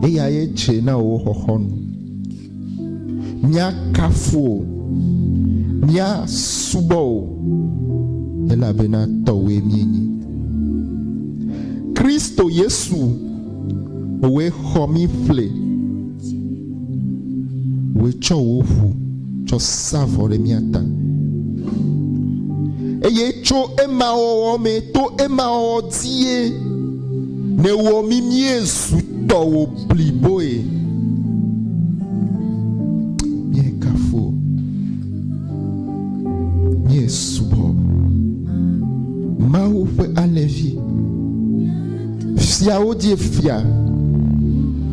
eyaye tsɛ na wò xɔxɔnu. Míakafu wò, míasubɔ wò, elabena tɔwòe míenye. Kristo Yesu, wòe xɔ mí ƒle. Wòe tsɔ wò ʋu tsɔ sa vɔ ɖe mía ta. Eye tso ema wɔwɔ me, to ema wɔwɔ dzie, nèwɔ mí míezu tɔwò bliboe. Míekafu wò. Míesubɔ wò. Mawu ƒe alẽvi. Fiawo die fia.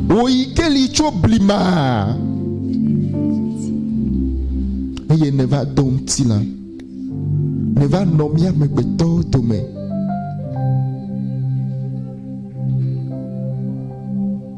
Wò yi ke li tso blima. Eye nèva do ŋutilã. Nèva nɔ mía amegbetɔwo dome.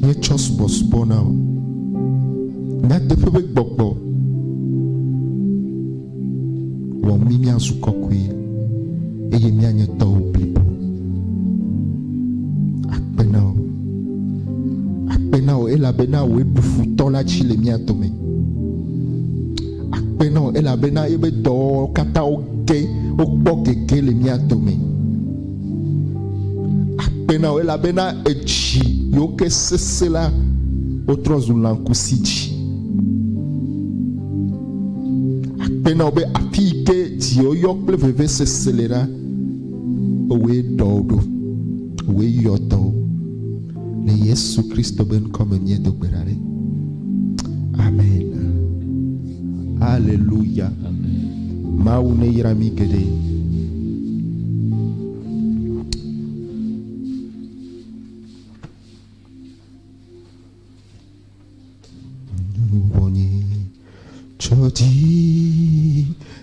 míetsɔ subɔsubɔ na o. Nyateƒe be gbɔgbɔ wɔ mí míazu kɔkɔe eye míanye tɔwò blibo. Akpe na wò. Akpe na wò elabena wòe bu futɔ la dzi le mía dome. Akpe na wò elabena ebe dɔwɔwɔ katã woge wokpɔ gege le mía dome. Akpe na wò elabena èdzi yewo ke sesẽ la wotrɔ zu lãkusi dzi. Akpe na wò be afi yi ke dziɔyɔ kple vevesese le la, ewɔe ɖɔ wo ɖo, ewɔe yɔ dɔ wo. Le Yesu Kristo be ŋkɔ me míedo gbe ɖa ɖi. Amen. Haleluya. Mawu neyra mi geɖe. Nuwɔnye tsɔ dzi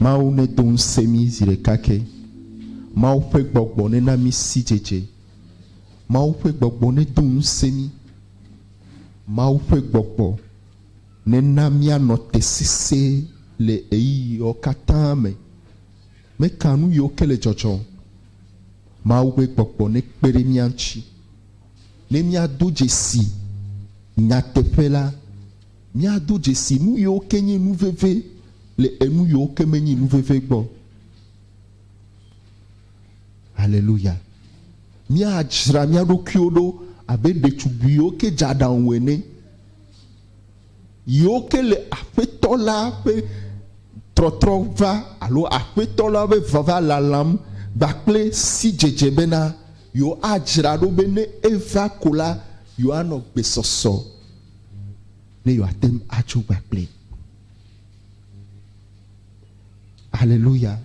Mawu nedo ŋusẽ mí zi ɖeka ke. Mawu ƒe gbɔgbɔ nena mí sidzedze. Mawu ƒe gbɔgbɔ nedo ŋusẽ mí. Mawu ƒe gbɔgbɔ nena míanɔ te sesẽe le ɣeyiɣiwo katã me. Meka nu yiwo ke le dzɔdzɔ. Mawu ƒe gbɔgbɔ nekpe ɖe mía ŋuti ne míado dzesi nyateƒe la. Míado dzesi nuyiwo ke nye nu veve le enuyiwo ke menye nu veve gbɔ. Haleluya! Míadzra mía ɖokuiwo ɖo abe ɖetugbuiwo ke dze aɖaŋu ene, yiwo ke le Aƒetɔ la ƒe trɔtrɔ va alo Aƒetɔ la ƒe vava lalam gba kple sidzedze bena yewoadzra ɖo be ne eva ko la, yewoanɔ gbesɔsɔ. ne yewoate ŋu atso gba kpli. Haleluya.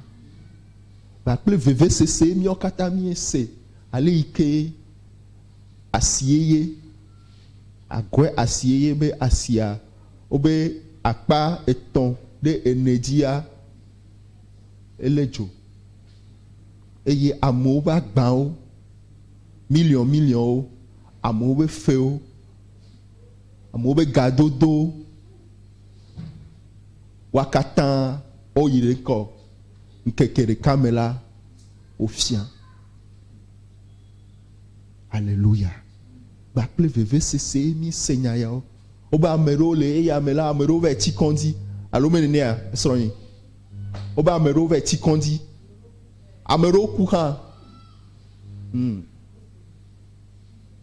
Ba kple vevesese míawo katã míese ale yi ke asieye, agɔe asieye be asia wobe akpa etɔ̃ ɖe ene dzia ele dzo eye amewo ƒe agbawo, miliɔn miliɔnwo, amewo ƒe fewo Amewo be gadodo wa katã woyi ɖe ŋkɔ ŋkeke ɖeka me la wofia. Aleluya. Gba kple vevesese míese nya yawo. Wobe ame ɖewo le eya me la, ame ɖewo va tsi kɔdzi alo me nenea esrɔ̃e. Wobe ame ɖewo va tsi kɔdzi. Ame ɖewo ku hã. Hmm.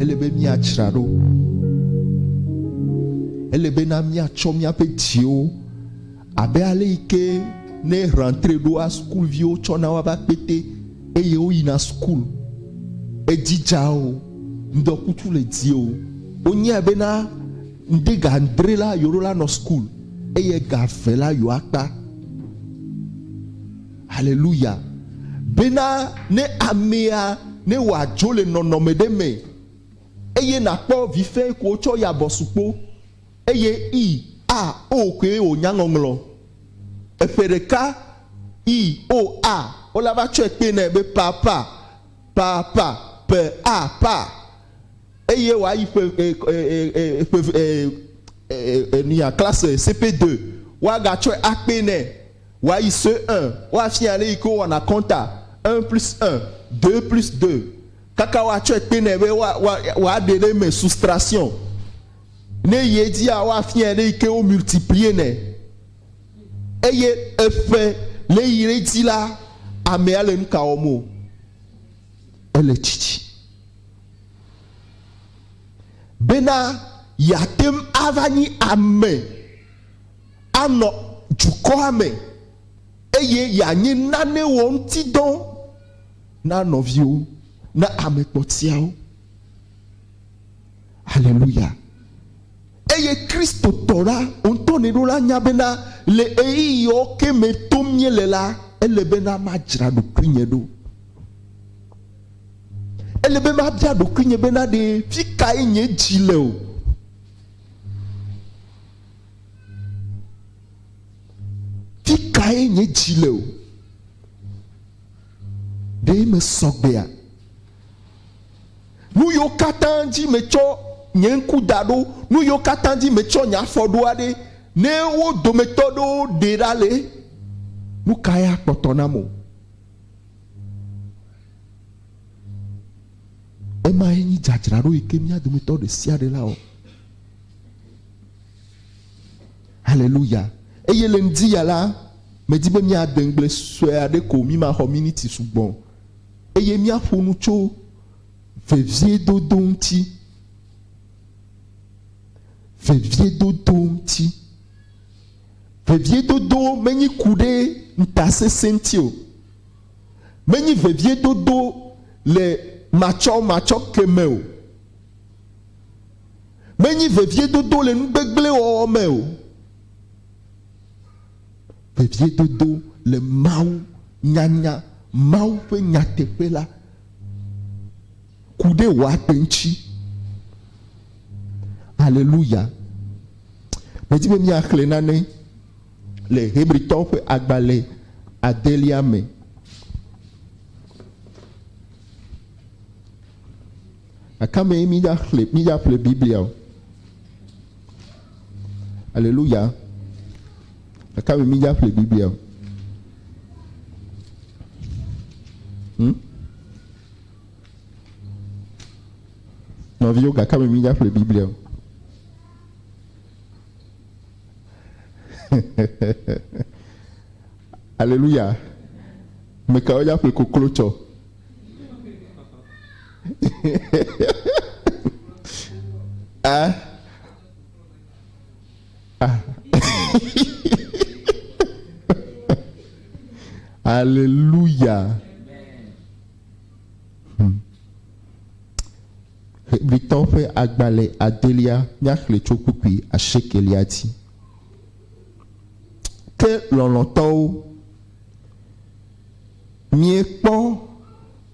Ele be míatsra ɖo. Ele be na míatsɔ míaƒe dziwo abe ale yi ke ne rentre ɖoa sukuviwo tsɔna woƒe akpete eye woyina sukul. Edzidza o, ŋdɔkutsu le dzi o. Wonyae be na ŋde ga adre la yewoɖo la nɔ sukul eye ga eve la yewoakpa. Haleluya! Bena ne amea ne wòadzo le nɔnɔme ɖe me eye nàkpɔ vi fɛ̃ ko wotsɔ yi abɔsukpo eye i, a, o koe wònya ŋɔŋlɔ. Eƒe ɖeka, i, o, a, o la va tsɔe kpee nɛ be pa, pa, pa, pa, pe, a, pa eye wòayi ƒe, e, e, e, e, ƒe, e, e, e, e, nuya, classe CP2, woagatsɔe akpee nɛ. Woayi ce un woafia aleyi ke wowɔna kɔnta un plus un, deux plus deux kaka woatsɔe kpe nɛ be woa woa woaɖe ɖe eme soustraction. Ne eyi edzia woafiae aleyi ke wo multiplier nɛ eye eƒe ne yi ɖe edzi la amea le nuka wɔm o ele tsitsi. Bena yeateŋu ava nyi ame. anɔ dukɔa me, eye yeanye nane wɔ ŋuti dɔ na nɔviwo, na ame kpɔtiawo. Haleluya. Eye Kristotɔ la, woŋutɔ nɛ ɖo la nya bena le ɣeyiɣiwo ke me tom nye le la, ele bena madzra ɖokuinye ɖo. Ele be mabia ɖokuinye bena ɖe fikae nye dzi le o. Fikae nye dzi le o? Ɖe mesɔ gbea? Nuyiwo katã dzi metsɔ nye ŋku da ɖo, nuyiwo katã dzi metsɔ nye afɔ ɖoa ɖe, ne wo dometɔ ɖewo ɖee ɖa le, nukae akpɔtɔ nam o? Emae nye dzadzraɖo yike mía dometɔ ɖesiaɖe lawɔ. Haleluya! Eye le ŋdiya la, medi be míade ŋugble sue aɖe ko, mímaxɔ miniti sugbɔ o, eye míaƒo nu tso veviedodo ŋuti. Veviedodo ŋuti. Veviedodo menyi ku ɖe ŋutasesẽ ŋuti o. Menyi veviedodo le matsɔmatsɔke me o. Menyi veviedodo le nu gbegblẽ wɔwɔ me o. Veviedodo le Mawu nyanya, Mawu ƒe nyateƒe la, ku ɖe wò agbe ŋuti. Aleluya! Medi be míaxlẽ nane le Hebritɔwo ƒe agbalẽ adelia me. Aka mee mídzaxlẽ, mídzaƒle Biblia o? Aleluya. Aka mee mídzaƒle Biblia o? Hmm? Nɔviwo, gaka me mídza ƒle Biblia o. Aleluya. Mekawo dza ƒle koklo tsɔ? ah ah aleluya Hmm. hebritɔwo ƒe agbalẽ adelia míaxlẽ tso kpukpui asiekelia dzi ke lɔlɔ̃tɔwo miekpɔ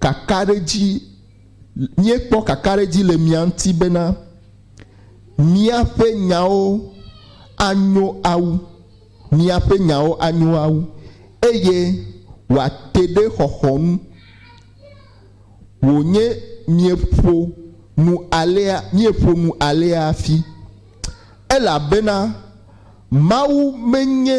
Kakaɖedzi, Míekpɔ kakaɖedzi le mia ŋuti bena míaƒe nyawo anyo awu, miaƒe nyawo anyo awu, eye wòate ɖe xɔxɔ ŋu. Wònye mieƒo nu alea, míeƒo nu alea hafi, elabena Mawu menye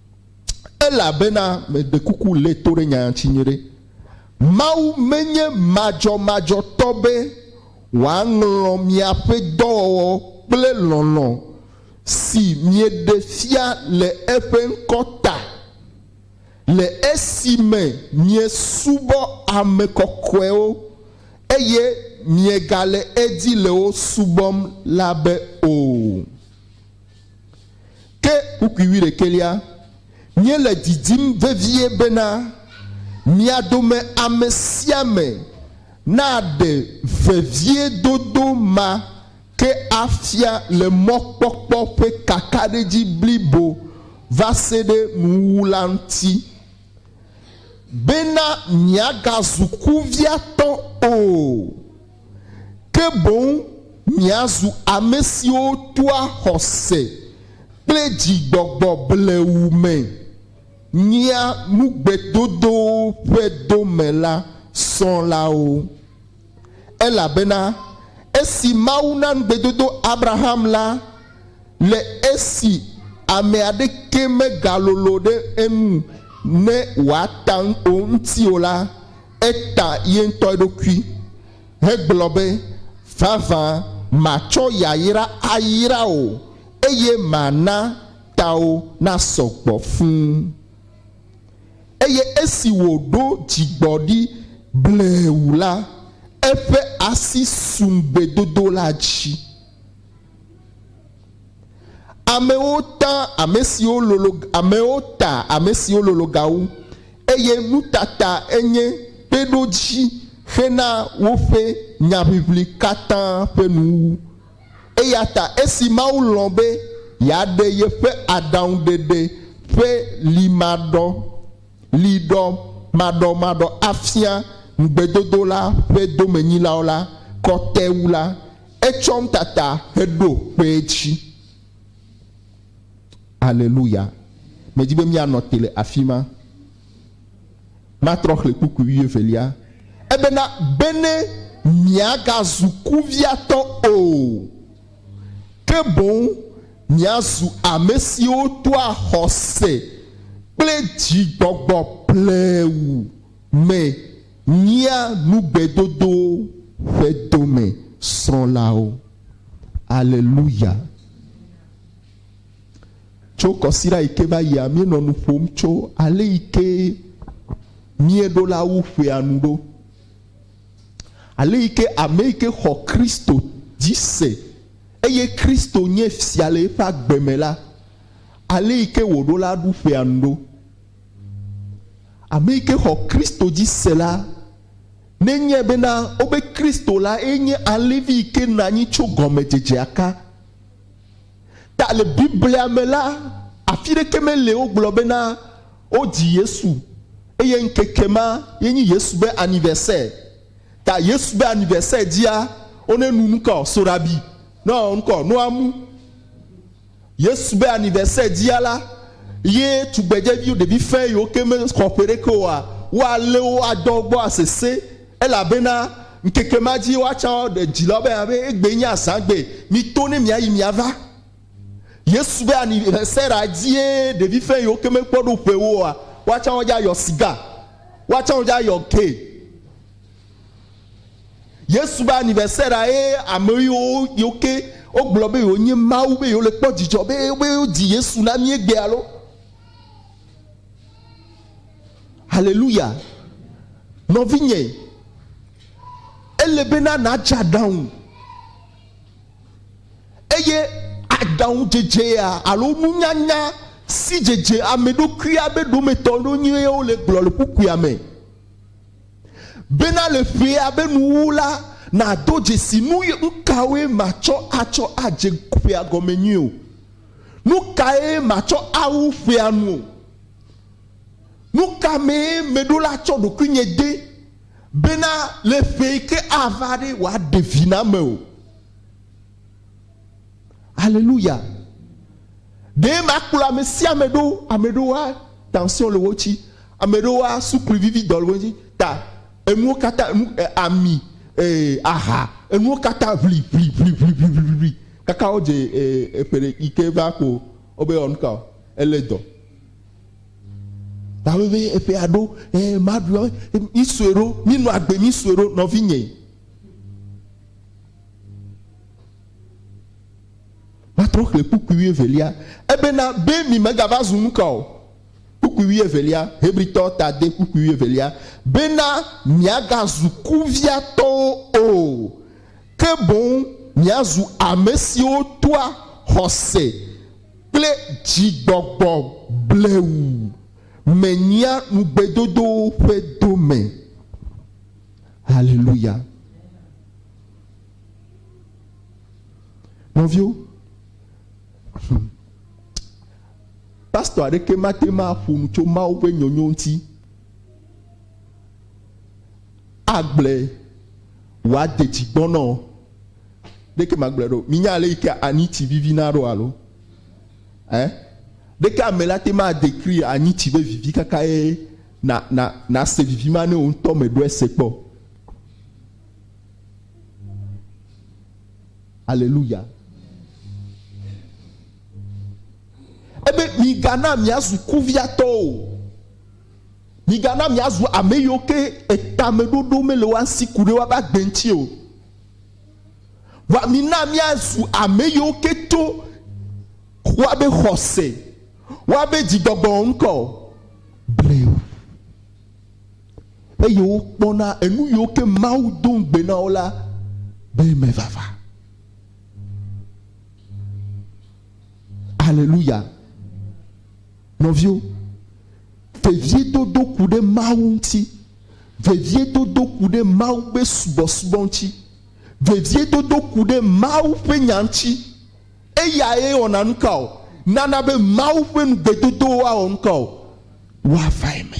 Elabena, meɖe kuku lé to ɖe nya ŋuti nyuiɖe, Mawu menye madzɔmadzɔtɔ be wòaŋlɔ miaƒe dɔwɔwɔ kple lɔlɔ̃ si mieɖe fia le eƒe ŋkɔ ta, le esime miesubɔ ame kɔkɔewo, eye miegale edzi le wo subɔm la be o. Ke kpukpui wuiɖekɛlia, míele didim vevie bena mia dome ame sia ame naɖe veviedodo ma ke afia le mɔkpɔkpɔ ƒe kakaɖedzi blibo vaseɖe nuwuwu la ŋuti, bena miagazu kuviatɔ o. ke boŋ miazu ame siwo toa xɔse kple dzigbɔgbɔ blewu me nyia nugbedodowo ƒe dome la srɔ̃lawo. Elabena esi Mawu na ŋugbedodo Abraham la, le esi ame aɖeke megalolo ɖe enu ne wòata ŋu o ŋuti o la, Eta ye ŋutɔ eɖokui hegblɔ be, Vavã matsɔ yayra ayra wò, eye mana tawò nasɔ gbɔ fũu. Eye esi wòɖo dzigbɔɖi bleu la, eƒe asi su ŋugbedodo la dzi. Amewo ta ame siwo lolo amewo ta ame siwo lolo ga wu, eye nutata enye kpeɖodzi ƒe na woƒe nyaʋiʋli katã ƒe nuwuwu. Eya ta esi Mawu lɔ̃ be yeaɖe yeƒe aɖaŋuɖeɖe ƒe limaɖɔ liɖɔ maɖɔmaɖɔ afia ŋugbedodo la ƒe domenyilawo la kɔ te wu la, Etsɔm tata heɖo kpe edzi. Aleluya. Medi be míanɔ te le afi ma. Matrɔ xlẽ kpukpui wuievelia. Ebena, Bene miagazu kuviatɔ o, ke boŋ miazu ame siwo toa xɔse kple dzigbɔgbɔ plewu me. Nyia nu gbedodowo ƒe dome srɔ̃lawo. Aleluya! Tso kɔsiɖa yi ke va yia, míenɔ nu ƒom tso ale yi ke míeɖo la wu ƒea nu ɖo. Ale yi ke ame yi ke xɔ Kristo dzi se eye Kristo nye fia le eƒe agbe me la, ale yi ke wòɖo la ɖu ƒea nu ɖo. Ame yi ke xɔ Kristo dzi se la, nenye bena wobe Kristo la ye nye alẽvi yi ke nɔ anyi tso gɔmedzedzea ka ta. Le Biblia me la, afi ɖeke meli wogblɔ bena wodzi Yesu eye ŋkeke ma ye nyi Yesu be anniversaire ta. Yesu be anniversaire dzia, wonenu nukɔ soɖabi nɔ nukɔ noamu. Yesu be anivɛsɛ dzia la, ye tugbedzeviwo ɖevi fɛ̃ yiwo ke mexɔ ƒe ɖeke oa, woalé wo adɔ gbɔ asesẽ, elabena ŋkeke ma dzie woatsã aɖe dzilawo be nya be, egbee nye azãgbe, mito ne miayi miava. Yesu be anivɛsɛ ɖa dzie ɖevi fɛ̃ yiwo ke mekpɔ ɖo ƒewo oa, woatsã wodze ayɔ siga, woatsã wodze ayɔ ke. Yesu be anivɛsɛra ye ame yiwo yiwo ke wogblɔ be yewonye Mawu be yewole kpɔ dzidzɔ be be wodzi Yesu na mí egbea lo. Haleluya. Nɔvinye, ele bena nàdze aɖaŋu eye aɖaŋudzedzea alo nunyanya si dzedze ame ɖokuia be ɖometɔ ɖo nyuie wole gblɔ le kpukpuia me. Bena le ƒea be nuwuwu la, nàdo dzesi nu kawoe matsɔ atsɔ adze ƒea gɔme nyuie o, nu kae matsɔ awu ƒea nu o, nu ka mee meɖo la tsɔ ɖokuinye de, bena le ƒe yi ke ava ɖe wòaɖe vi na ame o. Aleluya! Ɖe makplɔ ame sia ame ɖo, ame ɖewo wa tension le wo tsi, ame ɖewo wa suklu vivi dɔ le wo tsi, ta enuwo katã enu e, ami e, aha enuwo katã ʋli ʋli ʋli ʋli ʋli ʋli ʋli ʋli kaka wo dze e, eƒe ɖe yi ke va ko wo be ɔnuka o ele dɔ. Ta wo be eƒe aɖo e, maɖu mi sue ɖo mi nɔ agbe mi sue ɖo nɔvi nye. Matrɔ xlẽ kpukpui wuievelia. Ebena, be mi megava zu nuka o? Kpukpui wuievelia, Hebritɔ ta de kpukpui wuievelia, bena miagazu kuviatɔwo o, ke boŋ miazu amesiwo toa xɔse kple dzigbɔgbɔ blewu me nyia nugbedodowo ƒe dome. Haleluya! Nɔviwo, pastɔ aɖeke mate ŋu aƒo nu tso Mawu ƒe nyɔnyo ŋuti agblɔe wòade dzi gbɔna o. Ɖeke magblɔe ɖo. Minya ale yi ke anyitsi vivina ɖo alo? Eh? Ɖeke ame la te ma dekri anyitsi be vivi kaka ye na na nase vivi ma ne wò ŋutɔ meɖɔe se kpɔ. Aleluya. Ebe migana miazu kuviatɔwo o. Migana miazu ame yiwo ke etameɖoɖo mele woa si ku ɖe woabe agbe ŋuti o. Vɔa mina miazu ame yiwo ke to woabe xɔse, woabe dzigbɔgbɔ ŋkɔ o. Bleo. Eye wokpɔna enu yiwo ke Mawu do ŋugbe na wo la be eme vava. Aleluya. Nɔviwo, veviedodo ku ɖe Mawu ŋuti. Veviedodo ku ɖe Mawu ƒe subɔsubɔ ŋuti. Veviedodo ku ɖe Mawu ƒe nya ŋuti. Eyae wɔna nukao? Nana be Mawu ƒe nugbedodowo awɔ nukao? Woava eme.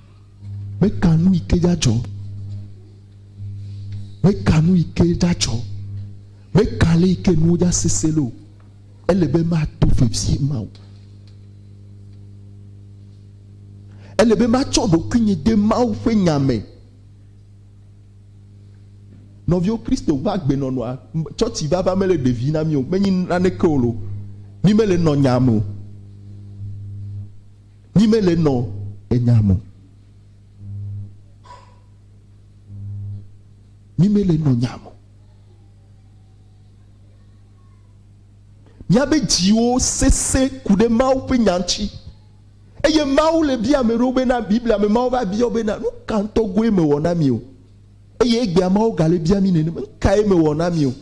Meka nu yi ke dzadzɔ. Meka nu yi ke dzadzɔ. Meka le yi ke nuwo dza sese le o. Ele be mato vevie ma o. Ele be matsɔ ɖokuinye de Mawu ƒe nya me. Nɔviwo Kristo ƒe agbenɔnɔa, tsɔtsi vava mele ɖevi na mí o, menyi naneke o lo. Mí mele nɔ nya me o. Mí me le nɔ enya mo. Mí me le nɔ nya mo. Míabe dziwo sese ku ɖe Mawu ƒe nya ŋuti. Eye Mawu le bia ame ɖewo bena, Biblia me Mawu va bia wo bena, nu ka ŋutɔ goe mewɔ na mi o? Eye egbea Mawu gale bia mí nenema, nu kae mewɔ na mi o?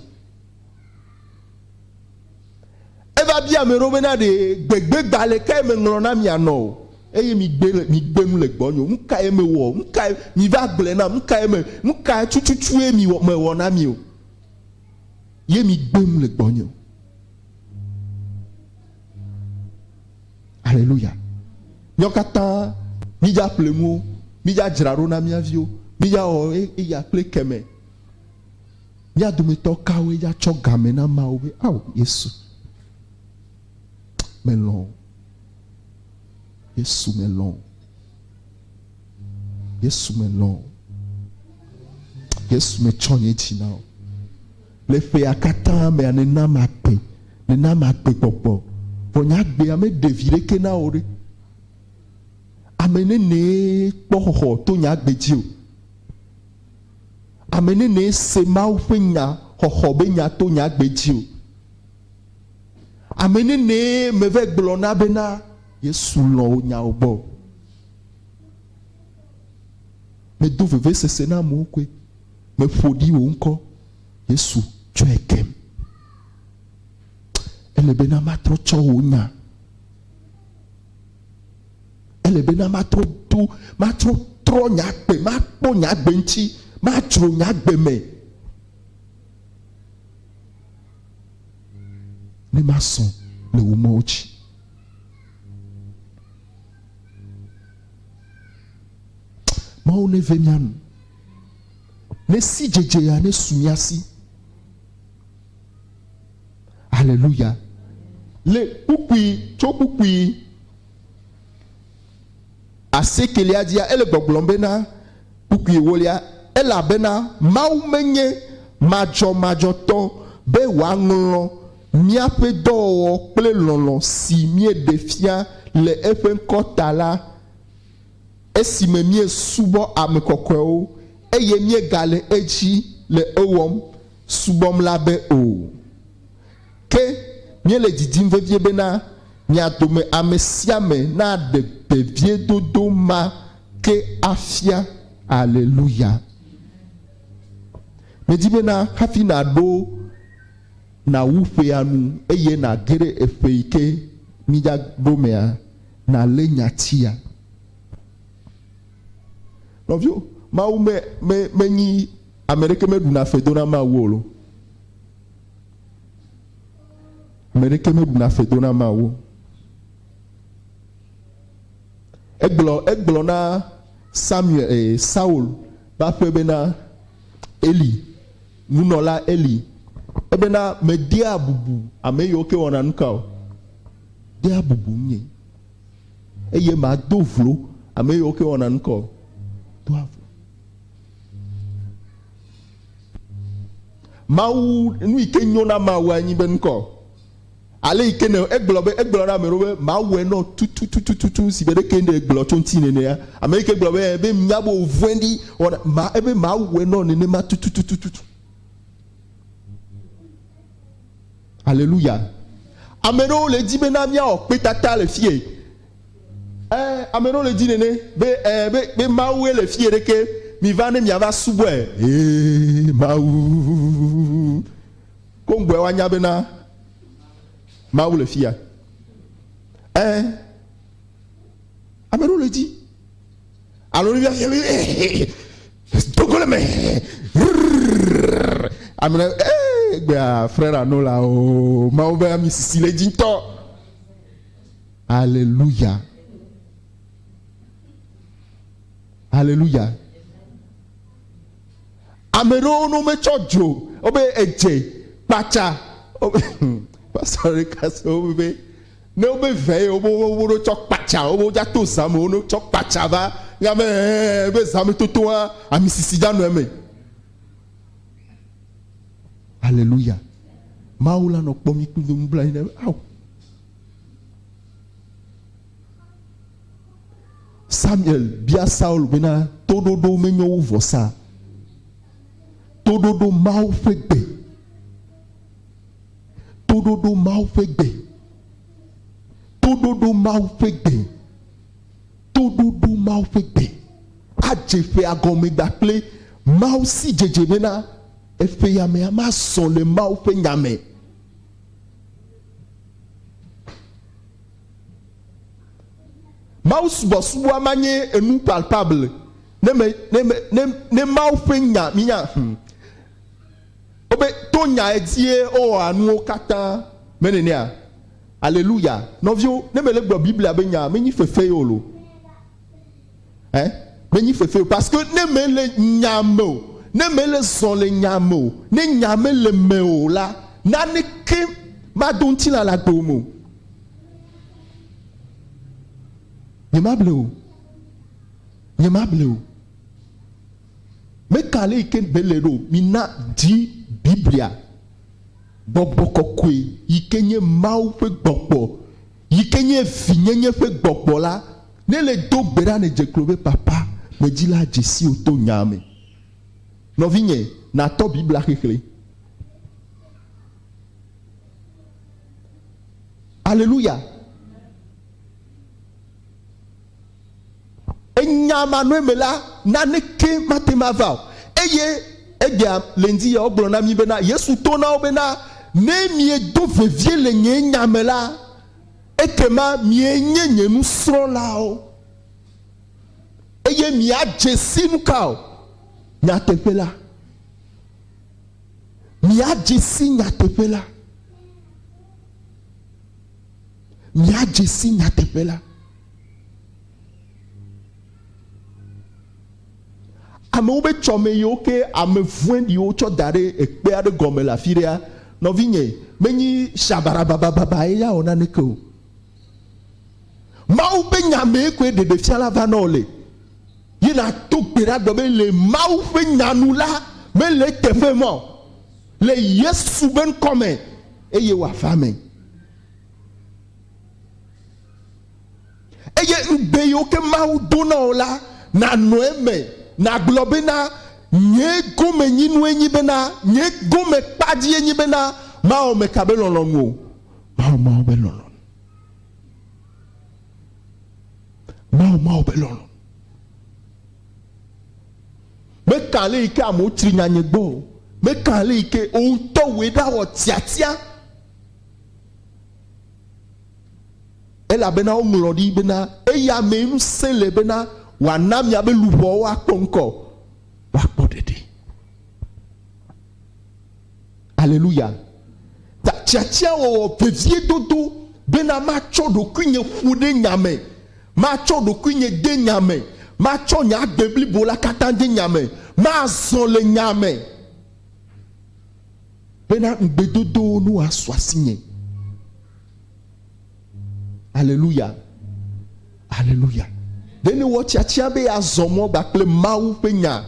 Eva bia ame ɖewo bena, Ɖe gbegbe gbalẽ kae meŋlɔ na mi anɔ o? Eye migbe le, migbe nu le gbɔnye o. Nu kae mewɔ? Nu kae, miva gblɔe nam, nu kae me, nu ka tututue miwɔ, mewɔ na mi o? Ye migbe nu le gbɔnye o. Aleluya. Míawo katã mídza ƒle nuwo, mídza dzra ɖo na mía viwo, mídza wɔ eya kple kemɛ. Mía dometɔ kawoe ya tsɔ game na Mawu be, Ao, Yesu, melɔ̃ wò. Yesu, melɔ̃ wò. Yesu, melɔ̃ wò. Yesu, metsɔ nye dzi na wò. Le ƒea katã mea, nèna magbe, nèna magbe gbɔgbɔ. Vɔ nye agbea meɖe vi ɖeke na wò ɖe. Ame nenee kpɔ xɔxɔ to nye agbe dzi o. ame nenee se Mawu ƒe nya xɔxɔ be nya to nye agbe dzi o. Ame nenee meve gblɔ na bena Yesu lɔ̃ wò nyawo gbɔ o. Medo vevesese na amewo koe. Meƒo ɖi wò ŋkɔ. Yesu tsɔe kem. Ele bena matrɔ tsɔ wò nya. Ele be na matrɔ do, matrɔ trɔ nye agbe, makpɔ nye agbe ŋuti, madzro nye agbe me. Ne masɔ le wò mɔwo dzi. Mawu ne ve mia nu. Ne si dzedze ya ne su mia si. Haleluya. Le kpukpui tso kpukpui asiekelia dzia, ele gbɔgblɔm bena kpukpui ewolia, elabena Mawu menye madzɔmadzɔtɔ be wòaŋlɔ míaƒe dɔwɔwɔ kple lɔlɔ̃ si míeɖe fia le eƒe ŋkɔ ta la esime míesubɔ ame kɔkɔewo eye míegale edzi le ewɔm subɔm la be o. Ke míele didim vevie bena mia dome ame sia ame naɖe veviedodo ma ke afia. Aleluya! Medi bena hafi nàɖo nàwu ƒea nu eye nàge ɖe eƒe yi ke mídza ɖo mea, nàlé nyatia. Nɔvio, Mawu me, me, menyi Ame ɖeke meɖuna fe dona Mawu o lo. Ame ɖeke meɖuna fe dona Mawu. Egblɔ egblɔ na Samuel e, Saul ƒe aƒe bena Eli, nunɔla Eli, ebena medea bubu ame yiwo ke wɔna nuka o. Dea bubu ŋunyɛ. Eye mado vlo ame yiwo ke wɔna nuka o. Do avo. Mawu nu yi ke nyo na Mawu anyi be ŋkɔ. Ale yi ke ne egblɔ be egblɔ na ame ɖewo be Mawu enɔ tututututu si be ɖeke ne egblɔ tso ŋuti nenea. Ame yi ke gblɔ be be nya be wòvɔ̃ɖi wɔna ma ebe Mawu enɔ nenema tututututu. Aleluya. Ame ɖewo le edzi be na míawɔ kpetata le fie. Ɛɛ, ame ɖewo le di nene be ɛɛ be, be Mawue le fiye ɖeke, miva ne miava subɔe. Ee, Mawu. Koŋgbɔe woanya bena Mawu le fiya. Ɛɛ, ame ɖewo le di. Alo ne miafia be ee, dogo le me. Rrrr. Ame ɖe, ee, gbea, frère Anola o, Mawu be ami sisi le dzi ŋutɔ. Aleluya! Aleluya! Ame ɖewo no metsɔ dzo, wobe edze, kpatsa, pastɔ ɖeka se wo be ne wobe vɛ ye wobe wobe ɖo tsɔ kpatsa wobe wodza to zã me woɖo tsɔ kpatsa va nya be ɛɛ be zã me totoa ami sisi dza nɔ eme. Aleluya! Mawu la nɔ kpɔ mi kpli do nublanyi ne awu. Samuel bia Saul bena, Toɖoɖo menye wo vɔsa? Toɖoɖo Mawu ƒe gbe. Toɖoɖo Mawu ƒe gbe. Toɖoɖo Mawu ƒe gbe. Toɖoɖo Mawu ƒe gbe. Adze ƒea gɔme da kple Mawu si dzedze bena eƒeyamea mazɔ le Mawu ƒe nya me. Mawu subɔsubɔa ma nye enu palpable ne me ne me ne ne Mawu ƒe nya mi nya hm wobe to nya edzie wowɔa nuwo katã me nenea aleluya nɔviwo ne me le gblɔ Biblia be nya menyi fefe ye o lo Hein? Menyi fefee o parce que ne mele nyaa me o, ne mele zɔ le nyaa me o, ne nyaa mele eme o la, naneke mado ŋutilã le agbewo me o. Nyemable o. Nyemable o. Meka ale yike gbe le ɖo, mina di Biblia. Gbɔgbɔ kɔkɔe yike nye Mawu ƒe gbɔgbɔ yi ke nye vinyenye ƒe gbɔgbɔ la, ne le do gbe ɖa ne dze klo be papa medzi la dze siwò to nyaa me. Nɔvinye, natɔ Biblia xexlẽ. Aleluya! Enya ma nɔe me la, naneke mate ŋu ava o. Eye egbea le ŋdi ya wogblɔ na mí bena, Yesu to na wo bena, Ne miedo vevie le nye nya me la, ekema mienye nye nusrɔ̃lawo, eye miadze si nuka o? Nyateƒe la. Miadze si nyateƒe la. Miadze si nyateƒe la. Amewo be tsɔme yiwo ke ame vwɛɖiwo tsɔ da ɖe ekpe aɖe gɔme le afi ɖea, nɔvinye, menyi shabarabababaae ya wɔ naneke o. Mawu ƒe Nya mee koe ɖeɖefiala va nɔ le. Ye nàdo gbe ɖa gblɔ be, Le Mawu ƒe Nya nu la, mele eteƒe mɔ o. Le Yesu be ŋkɔ me, eye wòava eme. Eye ŋugbe yiwo ke Mawu do na wò la, nànɔ eme, nàgblɔ bena, Nye gomenyinue nye bena, nye gomekpadzie nye bena, mawɔ meka be lɔlɔ̃nu o, mawɔ Mawu be lɔlɔ̃nu, mawɔ Mawu be lɔlɔ̃nu. Meka ale yi ke amewo tsri nya nye gbɔ o, meka ale yi ke wò ŋutɔ wòe ɖawɔ tiatia. Elabena woŋlɔ ɖi bena, Eya mee ŋusẽ le bena wòana miabe luʋɔwo akpɔ ŋkɔ, woakpɔ ɖeɖe. Aleluya! Ta tiatia wɔwɔ vevie dodo bena matsɔ ɖokuinye ƒo ɖe nya me, matsɔ ɖokuinye de nya me, matsɔ nye agbe blibo la katã de nya me, mazɔ le nya me. bena ŋugbedodowo nu asu asinye. Aleluya. Aleluya. Ɖe nèwɔ tiatia be yeazɔ mɔ gba kple Mawu ƒe nya.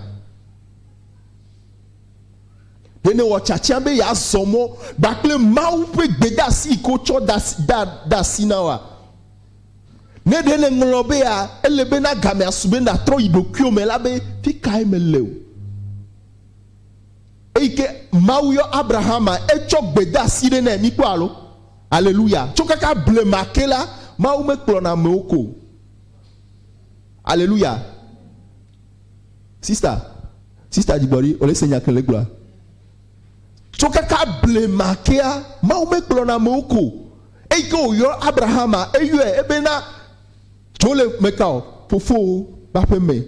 Ɖe nèwɔ tiatia be yeazɔ mɔ gba kple Mawu ƒe gbedasi yi ke wotsɔ de asi na wa. Ne ɖe nèŋlɔ bea, ele be na gamea su be nàtrɔ yi ɖokuiwò me la be, fi kae mele o? Eyi ke Mawu yɔ Abrahama, etsɔ gbe de asi ɖe nɛ. Mikpɔ alo? Aleluya! Tso kaka blema ke la, Mawu mekplɔna amewo ko o. Aleluya! Sista, Sista Dzigbɔɖi, wòle se nya ke le gblɔa? Tso kaka blema kea, Mawu mekplɔna amewo ko o. Eyi ke wòyɔ Abrahama, eyɔe ebena, Tso le meka o? Fofowò ƒe aƒe me.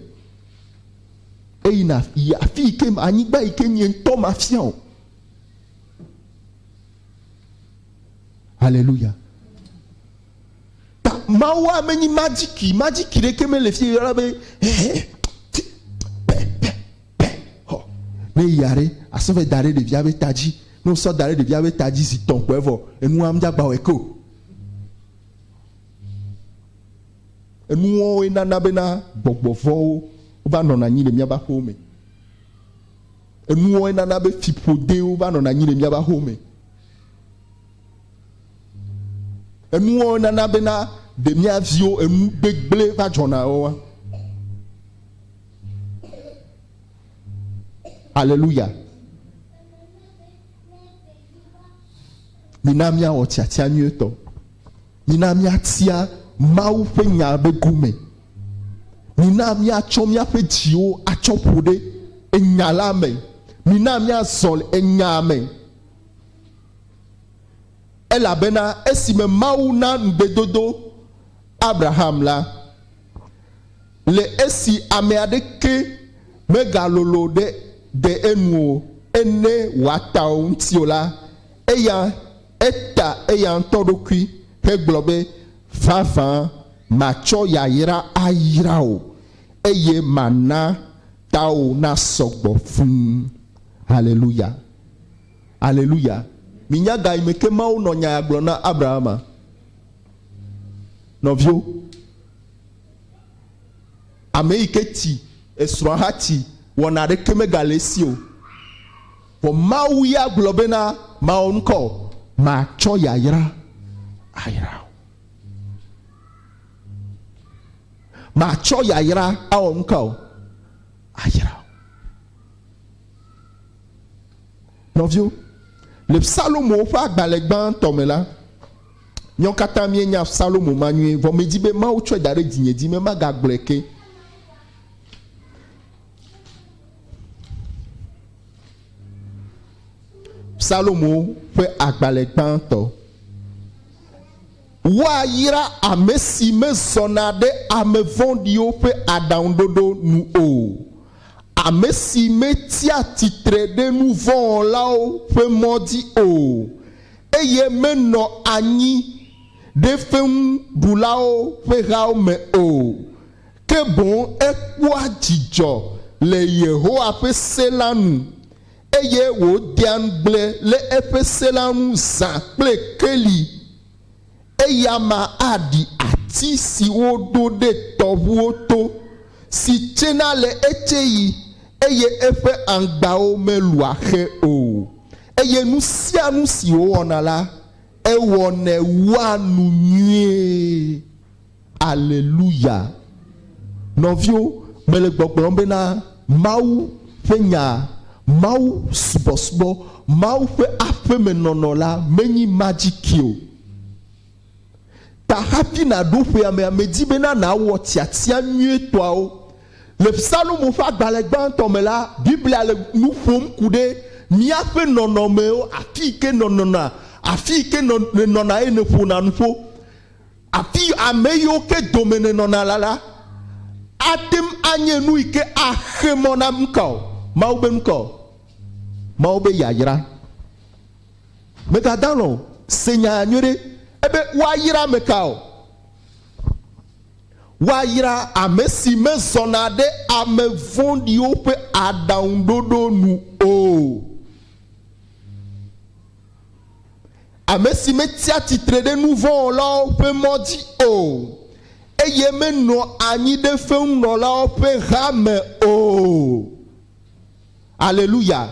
Eyina yi afi yi ke anyigba yi ke nye ŋutɔ mafia o. Haleluya. Ta Mawua menyi magiki, magiki ɖeke mele fi yɔla be ne ya ɖe asɔ vɛ da ɖe ɖevia be ta dzi ne wosɔ da ɖe ɖevia be ta dzi zi tɔn kɔe vɔ enua medzagba wɔe ke o. Enuwɔwɔe nana bena gbɔgbɔ vɔ̃wo va nɔna anyi le míaƒe aƒewo me. Enuwɔwɔe nana be fiƒodewo va nɔna anyi le míaƒe aƒewo me. Enuwɔwɔe nana bena ɖe mía viwo enu gbegblẽ va dzɔna oa? Aleluya. Mina míawɔ tiatia nyuietɔ. Mina míatia Mawu ƒe Nya be gome. Mina míatsɔ míaƒe dziwo atsɔ ƒo ɖe Enya la me. Mina míazɔ le Enyaa me. Elabena esime Mawu na ŋugbedodo Abraham la, le esi ame aɖeke megalolo ɖe de enu o ene wòata wo ŋuti o la, eya Eta eya ŋutɔ ɖokui hegblɔ be, Vavã, matsɔ yayra ayra wò, eye mana tawò nasɔ gbɔ fũu. Haleluya! Haleluya! Minya ga yi me ke Mawu nɔ nya ya gblɔm na Abrahama? Nɔviwo, ame yi ke tsi esrɔ̃a hatsi wɔna aɖeke megale esi o. Vɔ Mawu ya gblɔ bena, Mawɔ nu ka o? Matsɔ yayra ayra wò. Matsɔ yayra awɔ nu ka o? Ayra wò. Nɔviwo, le Psalomowo ƒe agbalẽ gbãtɔ me la, míawo katã míenya Psalomo ma nyuie, vɔ medi be Mawu tsɔe da ɖe dzinye dzi be magagblɔe ke. Psalomo ƒe agbalẽ gbãtɔ. Woayra ame si mezɔna ɖe ame vɔ̃ɖiwo ƒe aɖaŋuɖoɖo nu o, ame si metsia tsitre ɖe nu vɔ̃ wɔlawo ƒe mɔ dzi o, eye menɔ anyi ɖe fewuɖulawo ƒe hawo me o. ke boŋ ekpɔa dzidzɔ le Yehowa ƒe se la nu, eye wòdea ŋugble le eƒe se la ŋu zã kple keli. Eya ma aɖi ati si woɖo ɖe tɔʋuwo to, si tsena le etsɛɣi, eye eƒe aŋgbawo melua xe o, eye nu sia nu si wòwɔna la, ewɔnɛ wua nu nyuie. Aleluya! Nɔviwo, mele gbɔgblɔm bena Mawu ƒe nya, Mawu subɔsubɔ, Mawu ƒe aƒe me nɔnɔ la menyi magic o. Ta hafi nàɖo ƒea mea, medi bena nàwɔ tiatia nyuitɔawo. Le Psalmo ƒe agbalẽ gbãtɔ me la, Biblia le nu ƒom ku ɖe míaƒe nɔnɔmewo, afii ke nènɔna, afii ke nènɔna eye nèƒona nuƒo. Afi ame yiwo ke dome nènɔna la la, ate ŋu anye nu yi ke axe mɔ na nukawo? Mawu be nukawo? Mawu be yayra. Mègada alɔ̃ o, se nyaa nyuie ɖe. Ebe woayra ame kawo? Woayra ame si mezɔna ɖe ame vɔ̃ɖiwo ƒe aɖaŋuɖoɖo nu o. ame si metsia tsitre ɖe nu vɔ̃ wɔlawo ƒe mɔ dzi o, eye menɔa anyi ɖe feŋunɔlawo ƒe ha me o. Aleluya!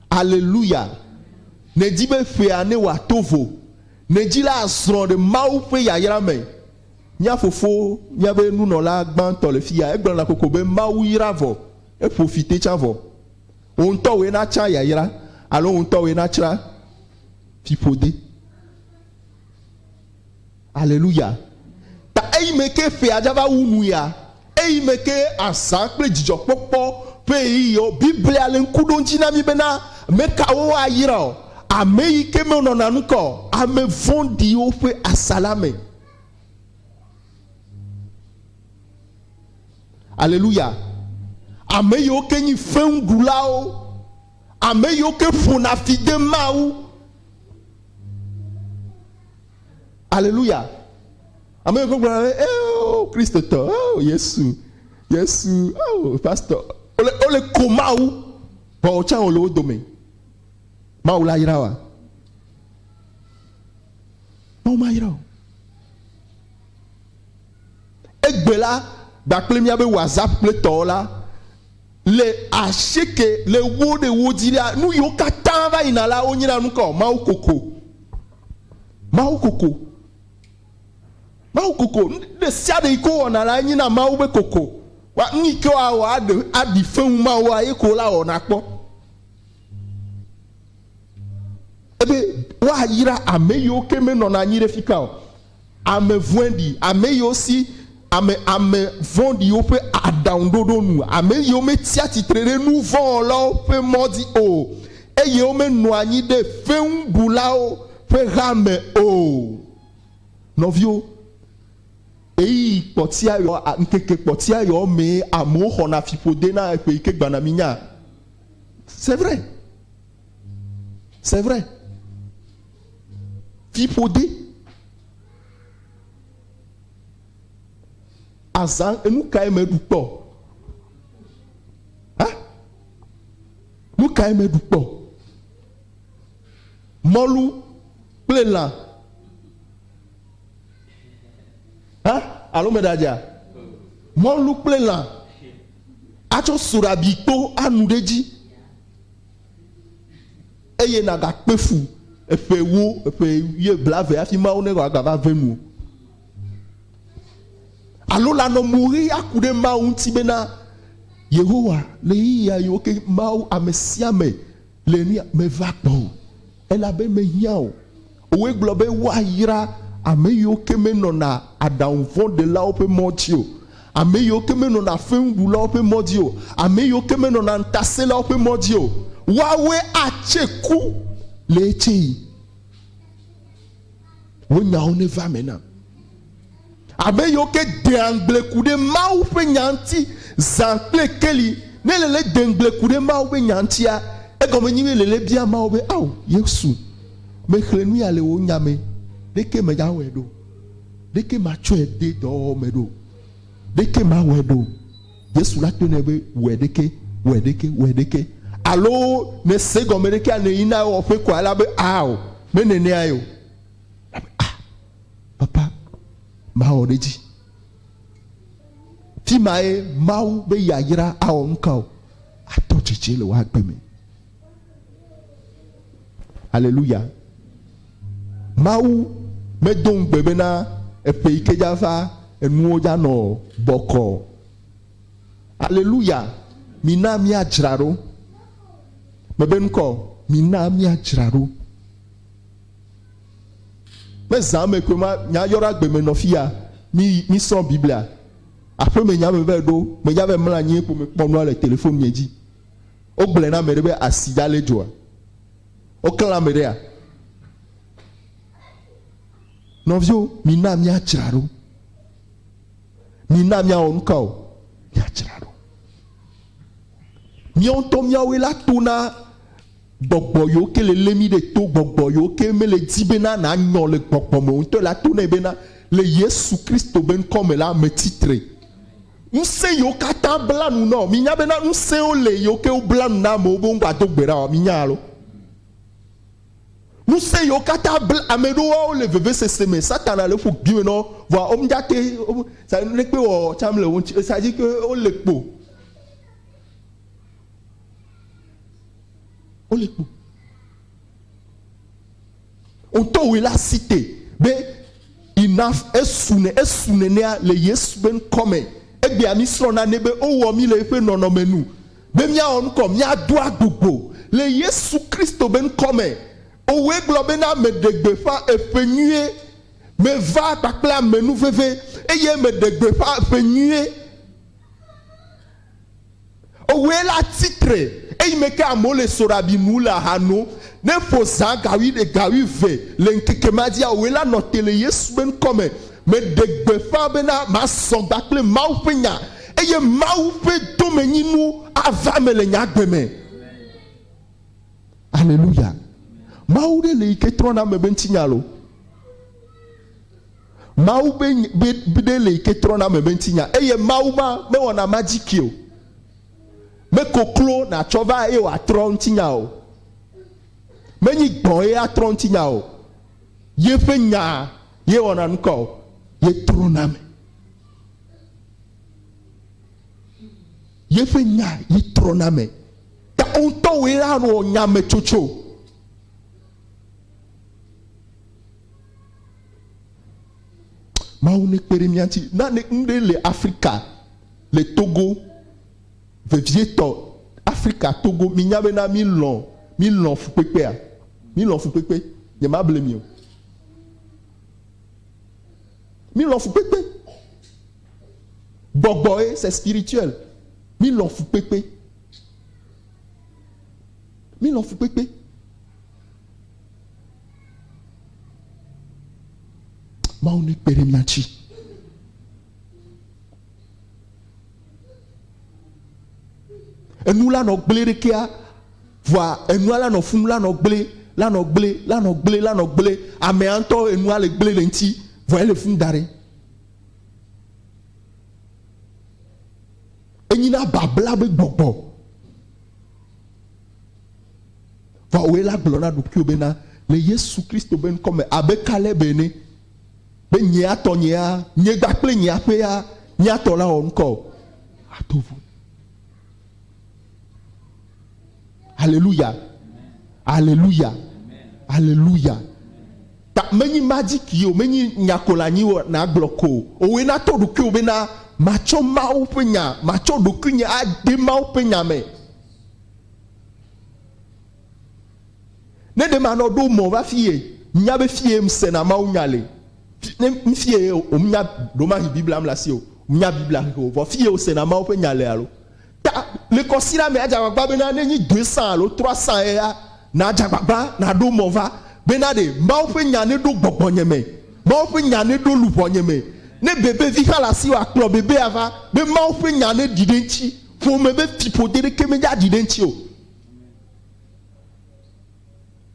Aleluya! Nèdi be ƒea newɔa to vo. Nèdi la azrɔ̃ ɖe Mawu ƒe yayra me. Mía fofo, míaƒe nunɔla gbãtɔ le fiya, egblɔna kokoko be, Mawu yra vɔ. Eƒo fi tetsã vɔ. Wò ŋutɔ wòe na tsã yayra alo wò ŋutɔ wòe na tsra fiƒode. Aleluya. Ta eyi me ke ƒea dza va wu nu ya, eyi me ke azã kple dzidzɔkpɔkpɔ ƒe ɣeyiɣiwo. Biblia le ŋku ɖom dzi na mí bena, Ame kawo woayra o? Ame yi ke menɔna nu ka o, ame vɔ̃ɖiwo ƒe asa la me. Aleluya. Ame yiwo ke nyi feŋuɖulawo, ame yiwo ke ƒona fi de Mawu. Aleluya. Ame yiwo ke gblɔna be, eo, Kristotɔ, eo, Yesu, Yesu, eo, pastɔ, wole, wole ko Mawu, vɔ wò tsã wòle wo dome. Mawu la yra wa. Mawu mayra o. Egbe la gba kple mía be whatsapp kple tɔwo la le ashieke le wo ɖe wo dzi la nu yiwo katã va yina la wo nyina nu kɔ mawu koko mawu koko mawu koko nu ɖe sia ɖe yi ko wɔna la nyina mawu be koko wa nu yi ke wɔ aɖe aɖi fɛwu mawu wa ye ko la wɔna kpɔ ebe woayra ame yiwo ke menɔna anyi ɖe fika o Ame vɔɛɖi, ame yiwo si ame ame vɔ̃ɖiwo ƒe aɖaŋuɖoɖo nu, ame yiwo metsia tsitre ɖe nu vɔ̃ wɔlawo ƒe mɔ dzi o, eye womenɔa anyi ɖe feŋuɖulawo ƒe ha me o. Nɔviwo, ɣeyiɣi kpɔtia ɣeɔ, ŋkeke kpɔtia ɣeɔ mee amewo xɔna fiƒode na ƒe yi ke gbana minya. C'est vrai. C'est vrai. Fiƒode. Azã enu kae meɖu kpɔ? Ha? Nu kae meɖu kpɔ? Mɔlu kple lã. Ha? Alo meɖe adzea? Mɔlu kple lã. Atsɔ sorabikpo anu ɖe edzi. eye nàgakpe fu eƒe ewo, eƒe wuie blave hafi Mawu ne wòagava ve nu o. Alo lanɔ mo ʋe aku ɖe Mawu ŋuti bena, Yehowa, ɣeyiɣi ɣaɣiwo ke Mawu amesiame le ni meva gbɔwò. Elabe mehiã o. Wogblɔ be woayra ame yiwo ke menɔna aɖaŋuvɔ̃ɖelawo ƒe mɔ dzi o, ame yiwo ke menɔna feŋuɖulawo ƒe mɔ dzi o, ame yiwo ke menɔna ŋutasẽlawo ƒe mɔ dzi o, woawoe atse ku le etsɛɣi. Wò nyawo neva eme nam. Ame yiwo ke dea ŋugble ku ɖe Mawu ƒe Nya ŋuti zã kple keli. Ne lele de ŋugble ku ɖe Mawu ƒe Nya ŋutia, egɔme nye be lele bia Mawu be, Ao, Yesu, mexlẽ nu ya le wò Nya me, ɖeke megawɔe ɖo? Ɖeke matsɔe de dɔwɔwɔ me ɖo? Ɖeke mawɔe ɖo? Yesu la tɔe nɛ be, Wɔe ɖeke, wɔe ɖeke, wɔe ɖeke. Alo nèse gɔme ɖekea nèyi na ewɔƒe koa? Ela be, Ao, menenea ye o. Ah, papa, mawɔ ɖe dzi. Fi ma ye Mawu be yayra awɔ ŋka o. Atɔ tsitsi le woagbe me. Aleluya. Mawu medo ŋugbe bena eƒe yi ke dzava enuwo dzanɔ bɔkɔ. Aleluya. Mina míadzra ɖo. Mebe ŋkɔ, mina míadzra ɖo. Me zã me koe ma nya yɔɖo agbe me nɔ fiya. Mi mi srɔ̃ Biblia. Aƒe me nya me vɛ ɖo. Me dza vɛ mla anyi ye kpo me kpɔ nua le telefon nye dzi. Wo gblɔɛ na ameɖe be asi dza le dzoa? Wo kle ameɖea? Nɔvio, mi na mia dzra ɖo. Mi na mia wɔ nuka o? Mia dzra ɖo. Miawo ŋutɔ miawoe la to na Gbɔgbɔ yiwo ke le lé mí ɖe to, gbɔgbɔ yiwo ke mele di bena nànyɔ le gbɔgbɔ me o ŋutɔ la to nɛ bena, Le Yesu Kristo be ŋkɔ me la, metsi tre. Ŋusẽ yiwo katã bla nu na wò. Mìnya bena ŋusẽwo le yiwo ke wobla nu na amewo be womgado gbe ɖa oa? Mìnya alo? Ŋusẽ yiwo katã bla ame ɖo woawo le vevesese me. Satana le ƒo gbi me na wo, vɔa womedzate wo sa nuɖekpe wɔ tsã mele wo ŋuti o. Esa dzi ke wole kpo. wole kpo wotɔ wòe la si te be enough esu ne esu nenea le yesu be ŋkɔme egbea mi srɔ̃ na ne be wowɔ mi le eƒe nɔnɔme nu be míawɔ ŋkɔ míado agbogbo le yesu kristo be ŋkɔme owɔe gblɔ be na meɖe gbeƒã eƒe nyuie meva kpakple ame nu veve eye meɖe gbeƒã eƒe nyuie Ewɔe la tsi tre eyi me ke amewo le soɖabi nu le aha nom. Ne eƒo zã ga wuiɖe, ga wuieve le ŋkeke ma dzia, ewɔe la nɔ te le Yesu ƒe ŋkɔ me. Meɖe gbeƒã bena mazɔ gba kple Mawu ƒe nya eye Mawu ƒe domenyinu ava eme le nye agbe me. Aleluya! Mawu ɖe le yi ke trɔna ame be ŋutinya lo. Mawu be nya, be, be ɖe le yi ke trɔna ame be ŋutinya. Eye Mawu ma mewɔna magic o. Mekoklo natsɔ va eye wòatrɔ ŋutinya o. Menyi gbɔ̃ ye atrɔ ŋutinya o. Yeƒe nya ye wɔna nukɔ o. Ye trɔna ame. Yeƒe nya ye trɔna ame. Ta wo ŋutɔ woe la wɔ nya me tsotso. Mawu ne kpe ɖe mía ŋuti. Nane nu ɖe le Afrika, le Togo, vevietɔ, Afrika Togo, mi nya bena mi lɔ̃, mi lɔ̃ fukpekpea? Mi lɔ̃ fukpekpe. Nye ma ble mi o. Mi lɔ̃ fukpekpe. Gbɔgbɔ ye, c'est spirituel. Mi lɔ̃ fukpekpe. Mi lɔ̃ fukpekpe. Mawu ne kpe ɖe mía ŋuti. Enu la nɔ gblẽ ɖe kea, vɔa enua la nɔ fum la nɔ gblẽ, la nɔ gblẽ, la nɔ gblẽ, la nɔ gblẽ. Amea ŋutɔ enua le gblẽ le ŋuti, vɔa ele fum da ɖe. Enyi na babla be gbɔgbɔ. Vɔ wòe la gblɔ na ɖokuiwò be na, le Yesu Kristo be ŋkɔ me, abe Kaleb ene, be nye ya tɔ nyea, nye gba kple nye aƒe ya mía tɔ la wɔ ŋkɔ o. Ato vo. Aleluya. Aleluya. Aleluya. Ta menyi magic yi o, menyi nyakolanyi o nàgblɔ ko o. Wòe natɔ ɖokuiwò be na matsɔ Mawu ƒe nya, matsɔ ɖokuinye ade Mawu ƒe nya me. Ne ɖe manɔ ɖo mɔ va fie, nya be fie sena Mawu nya le. Ne fie womnya ɖo mahi Biblia mle asi o, nya Biblia xexe o, vɔ fie wosena Mawu ƒe nya le alo. Ta le kɔsiɖa me adze agbagba bena ne nyi doe sã alo trɔa sã ya nadze agbagba naɖo mɔ va bena ɖe Mawu ƒe nya neɖo gbɔgbɔnye me, Mawu ƒe nya neɖo luʋɔnye me. Ne bebevi hã le asiwò akplɔ bebea va be Mawu ƒe nya neɖi ɖe eŋuti. Ƒome ƒe fiƒode ɖeke menye aɖi ɖe eŋuti o.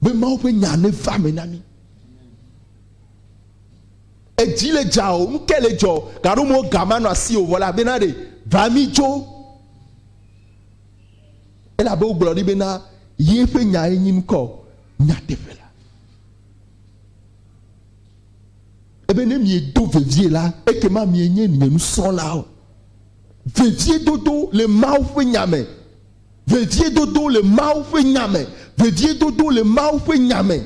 Be Mawu ƒe nya neva eme na mí. Edzi le dza o, nu ke le dzɔ, gaɖo mo ga manɔ asi o vɔ la bena ɖe va mí dzo. Elabe wogblɔ ɖi bena ye ƒe nya ye nyi nukɔ nyateƒe la. Ebe ne miedo vevie la, ekema mienye nye nusrɔ̃lawo. Veviedodo le Mawu ƒe Nya me. Veviedodo le Mawu ƒe Nya me. Veviedodo le Mawu ƒe Nya me.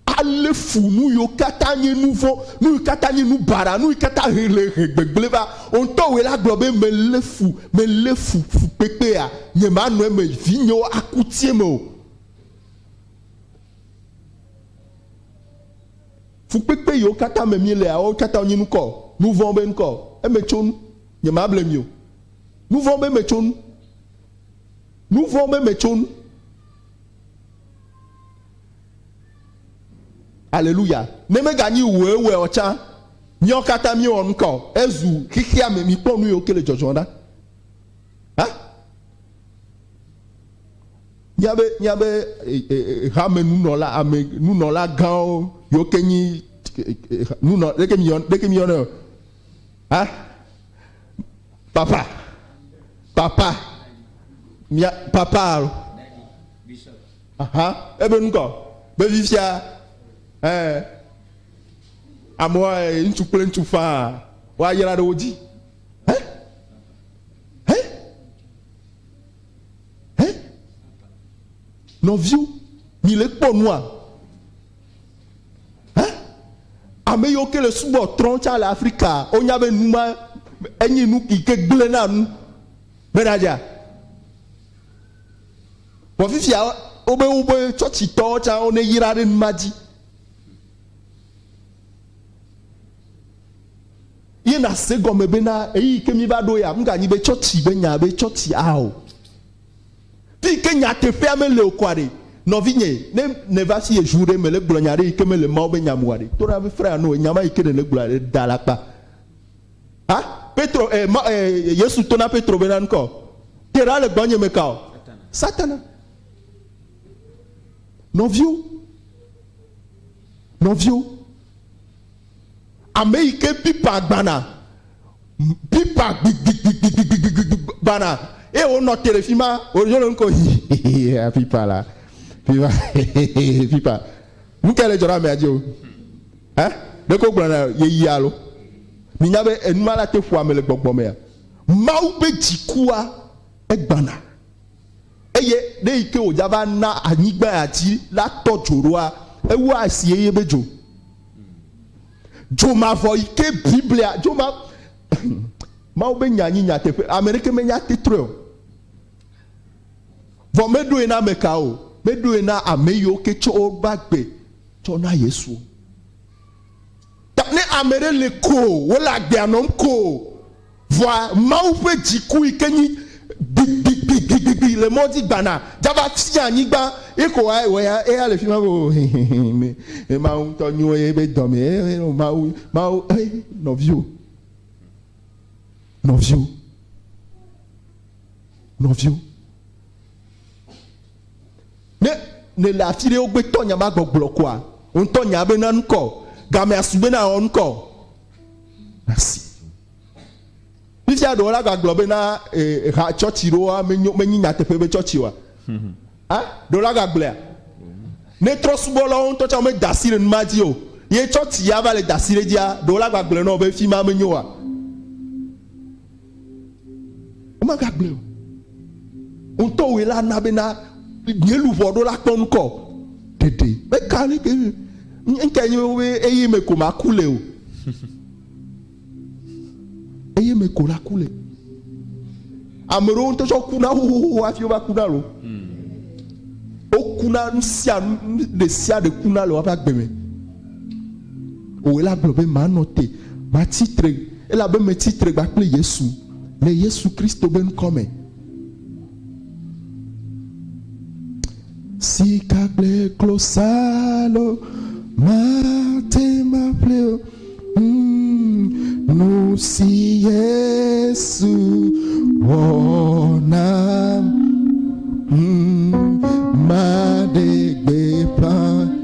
Ale fu nu yiwo katã nye nu vɔ̃, nu yi katã nye nu baɖa, nu yi katã he le he gbegblẽ va. Wò ŋutɔ wòe la gblɔ be, Melé fu, melé fu fukpekpea, nyemanɔ eme, vinyewo aku tie me o. Fukpekpe yiwo katã me mielea, woawo katã wonye nukɔ, nuvɔ̃ be nukɔ. Eme tso nu. Nyemable mi o. Nuvɔ̃ be me tso nu. Nuvɔ̃ be me tso nu. Aleluya. Ne meganyi wòewɔe ɔ tsã, míawo katã míewɔ nukɔ. Ezu xexea me. Mikpɔ nu yiwo ke le dzɔdzɔm ɖa. Hã? Míabe, míabe hamenunɔla, ame nunɔla gãwo, yewo ke nyi nunɔ, ɖeke mi yɔ, ɖeke mi yɔnɛ o. Ha? Papa, papa, mia papa alo. Aha, ebe nukɔ, be fifia, ɛɛ, amewa ŋutsu kple ŋutsu faa, woayra ɖe wo dzi. Hɛ, nɔviwo, mi le kpɔ nua? Hɛ, ame yiwo ke le subɔ trɔn tsa le Afrika, wo nya be nu ma enyi nu yi ke gblẽ na nu be na dza. Vɔ fifia wo be wo be tsɔtsi tɔwo tsa wo ne yra ɖe nu ma dzi. Ye nàse gɔme be na ɣeyiɣi ke míva ɖo ya, mganyi be tsɔtsi be nya be tsɔtsi a o. Fi yi ke nyateƒea mele o kɔa ɖe, nɔvinye, ne nèva fi yeju ɖe mele gblɔ nya ɖe yi ke mele Mawu be nya me oa ɖe, to na fifrɛ ano enya ma yi ke nèle gblɔa ɖe da alakpa. A, Petro, e, ma, e, Yesu to na Petro be na nukɔ, te ɖa le gbɔnye me ka o. Satana. Nɔviwo. Nɔviwo. ame yi ke pipa gbana, pipa gbigbigbigbigbigbigbigbi gbana eye wonɔ te ɖe fi ma wòdzo le nu ko hihihihi pipa la pipa hihihihi pipa nu kae le dzɔ ɖe amea dzi o ɛ ɖeko wogblɔna yeyea alo minya be enuma la te ƒoa ame le gbɔgbɔ mea Mawu ƒe dzikua egbana eye ɖe yi ke wòdza va na anyigba ya dzi la tɔ dzo ɖoa ewɔa esi eye be dzo Dzomavɔ yi ke Biblia dzoma Mawu be nya nyi nyateƒe. Ame ɖeke menya titrɔe o. Vɔ meɖoe na ame ka o. Meɖoe na ame yiwo ke tsɔ woƒe agbe tsɔ na Yesu. Ta ne ame ɖe le ko wole agbea nɔm ko. Vɔa Mawu ƒe dziku yi ke nyi gbigbigbigbigbi le mɔ dzi gbana dzava fia anyigba. Ye ko wa wɔ ya eya le fima be o hehehe me e Mawu ŋutɔ nyo ye be dɔ me e o Mawu Mawu e nɔvio nɔvio nɔvio. Ne nèle afi ɖe wogbe tɔ nya ma gbɔgblɔ koa, wò ŋutɔ nya be na ŋkɔ gamea su be na wɔ ŋkɔ nasi. Fifia ɖewo la gbagblɔ be na eh, ha tsɔtsi ɖewoa menyi nyateƒe be tsɔtsi wa. Hmm. Ah, ɖewo la gbagblɔa. Ne trɔ subɔ la wo ŋutɔ tsɛ womeda asi ɖe numa dzi o. Ye tsɔtsi ya va le da asi ɖe dzia, ɖewo la gbagblɔ nɔ be fi ma menyo wa. Womegagblɔe o. Wò ŋutɔ wòe la na bena nye luʋɔ ɖo la kpɔ ŋkɔ ɖeɖe. Meka ne ke ŋkɛ nye be eye me ko maku le o. Eye me ko la ku le. Ame ɖewo ŋutɔ tsɔ kuna xoxoxo hafi wova kuna lo. Wokuna nu sia nu ɖe sia ɖe kuna le woƒe agbe me. Owɔe la gblɔ be, Manɔ te, matsi tre, elabe metsi tre gba kple Yesu le Yesu Kristo be ŋkɔ me. Sika kple klosalo mate maƒle o. Mm, nu si Yesu wɔ nam. Mm, maɖe gbeƒã.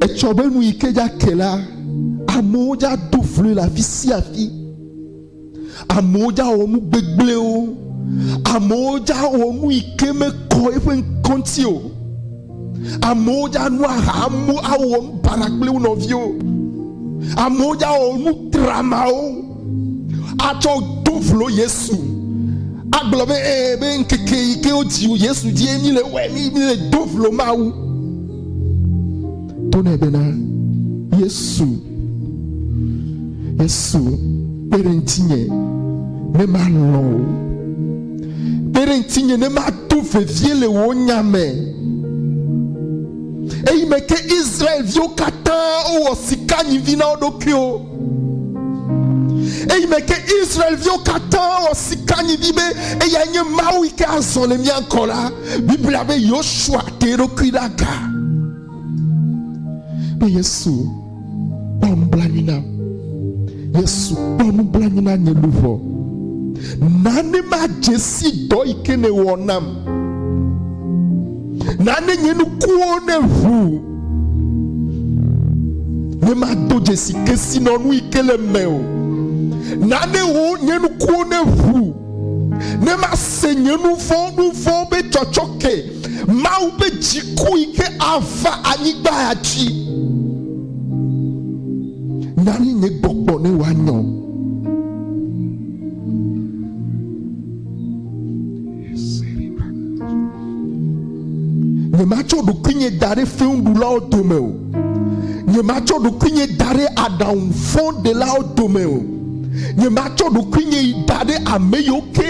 Etsɔ be nu yi ke dza ke la, amewo dza do vloe le afi sia afi. Amewo dza wɔ nu gbegblẽwo. Amewo dza wɔ nu yi ke mekɔ eƒe ŋkɔ ŋuti o. Amewo dza nu aha, amewo awɔ nu baɖa kple wo nɔviwo. Amewo dza wɔ nu tramawo. atsɔ do vlo yesu agblɔ be ee eh, be ŋkeke yi ke wodzi yesu dzie mi le wɛ mi mi le do vlo mawu to nɛ bena yesu yesu kpe ɖe ŋutinye ne malɔ o kpe ɖe ŋutinye ne mato vevie le wò nya me eyi me ke israelviwo katã wowɔ sika nyivi na wo ɖokuiwo eyi me ke Israelviwo katã wɔ sika nyidi be eya nye Mawu yi ke azɔ le mía ŋkɔ la. Biblia be Yosua te eɖokui ɖe aga be Yesu kpɔ nublanui nam. Yesu kpɔ nublanui na nye luʋɔ. Nane madze si dɔ yi ke nèwɔ nam. Nane nye nukuwo neʋu. Ne mado dzesi kesinɔnu yi ke le me o. Nane wo nye nukuwo ne ʋu. Ne mase nye nu vɔ̃ nu vɔ̃ be tsɔtsɔke. Mawu ƒe dziku yi ke ava anyigba dzi. Nane nye gbɔgbɔ ne wòanyɔ. Nyematsɔ ɖokuinye da ɖe fewuɖulawo dome o. Nyematsɔ ɖokuinye da ɖe aɖaŋu vɔ̃ɖelawo dome o. Nyematsɔ ɖokuinye da ɖe ame yiwo ke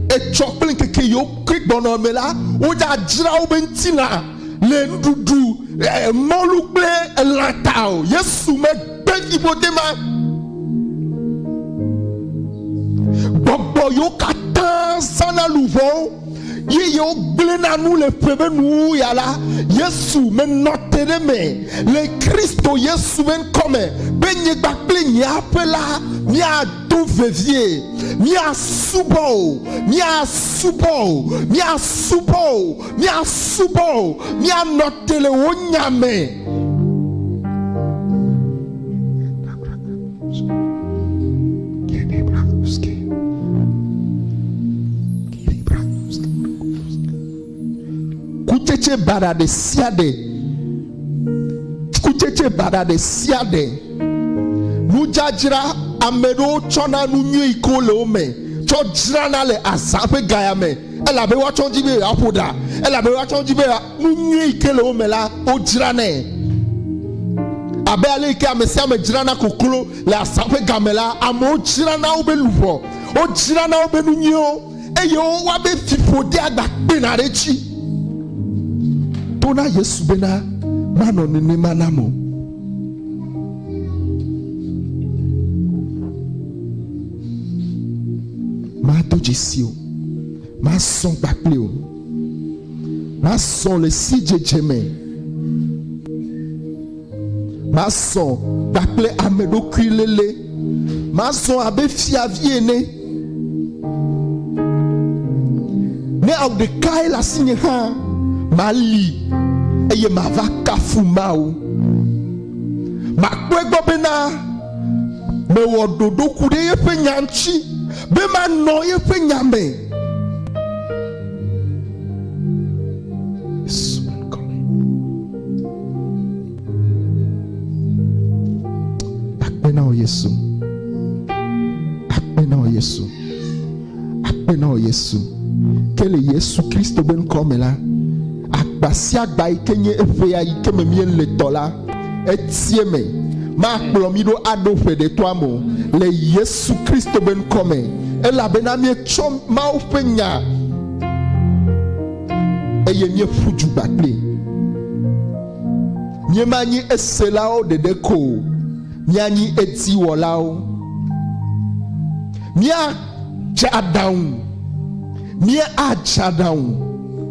etsɔ kple ŋkeke yiwo ke gbɔna me la, wodzadzra woƒe ŋutilã le nuɖuɖu, mɔlu kple elã ta o. Yesu me. Kpeviƒode ma, gbɔgbɔ yewo katã zãna luʋɔ ye yewo gblẽna nu le ƒe be nuwuwu ya la, Yesu menɔ te ɖe me le Kristo Yesu ƒe ŋkɔ me be nyigba kple nye aƒe la miado vevie. Miasubɔ o, miasubɔ o, miasubɔ o, miasubɔ o, mianɔ te le wò nya me. kutsetse baɖa ɖe sia ɖe kutsetse baɖa ɖe sia ɖe nudzadzra ame ɖewo tsɔna nu nyui ko le wo me tsɔ dzrana le azã ƒe gaya me elabe woatsɔ dzi be yewoaƒo ɖa elabe woatsɔ dzi be Nu nyui yi ke le wo me la, wodzranɛ. Abe ale yi ke ame sia ame dzrana koklo le asa ƒe game la, amewo dzrana woƒe luʋɔ, wodzrana woƒe nu nyuiwo, eye wowa be fiƒode agbakpena ɖe edzi. To na Yesu bena manɔ nenema nam o. Mado dzesi o. Mazɔ gba kpli wò. Mazɔ le sidzedze me. Mazɔ gba kple ameɖokuiléle. Mazɔ abe fiavi ene. Ne awu ɖekae le asinye hã, mali eye mava kafu Mawu. Makpɔe gbɔ bena mewɔ ɖoɖo ku ɖe eƒe nya ŋuti. Be manɔ yeƒe nya me. Akpe na wò Yesu. Akpe na wò Yesu. Akpe na wò Yesu. Ke le Yesu Kristo be ŋkɔ me la, agba sia agba yi ke nye eƒea yi ke me míele tɔ la, etie me. Makplɔ mi ɖo aɖo ƒe ɖe toa me le Yesu Kristo be ŋkɔ me, elabena mietsɔ Mawu ƒe nya eye mieƒu du gba kpli. Miemanyi eselawo ɖeɖe ko o, mianyi ediwɔlawo. Mia Tsa aɖaŋu. Míatsa aɖaŋu,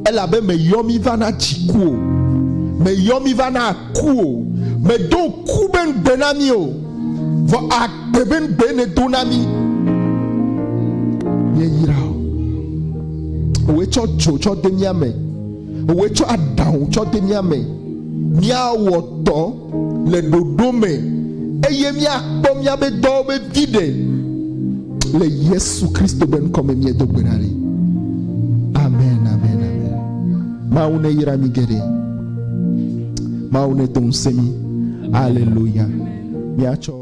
elabe mèyɔ mí va na dziku o, mèyɔ mí va na aku o. Mèdo ŋku be ŋugbe na mí o, vɔ agbe be ŋugbee nèdo na mí. Míeyra wò. Wòe tsɔ dzo tsɔ de mía me, wòe tsɔ aɖaŋu tsɔ de mía me. Míawɔ dɔ. le ɖoɖo me eye míakpɔ míaƒe dɔwo vevi ɖe le Yesu Kristo ƒe ŋkɔ me míedo gbe ɖa ɖi. Amen, amen, amen. Mawu ne yra mi geɖe. Mawu ne do ŋusẽ mi. Aleluya. Míatsɔ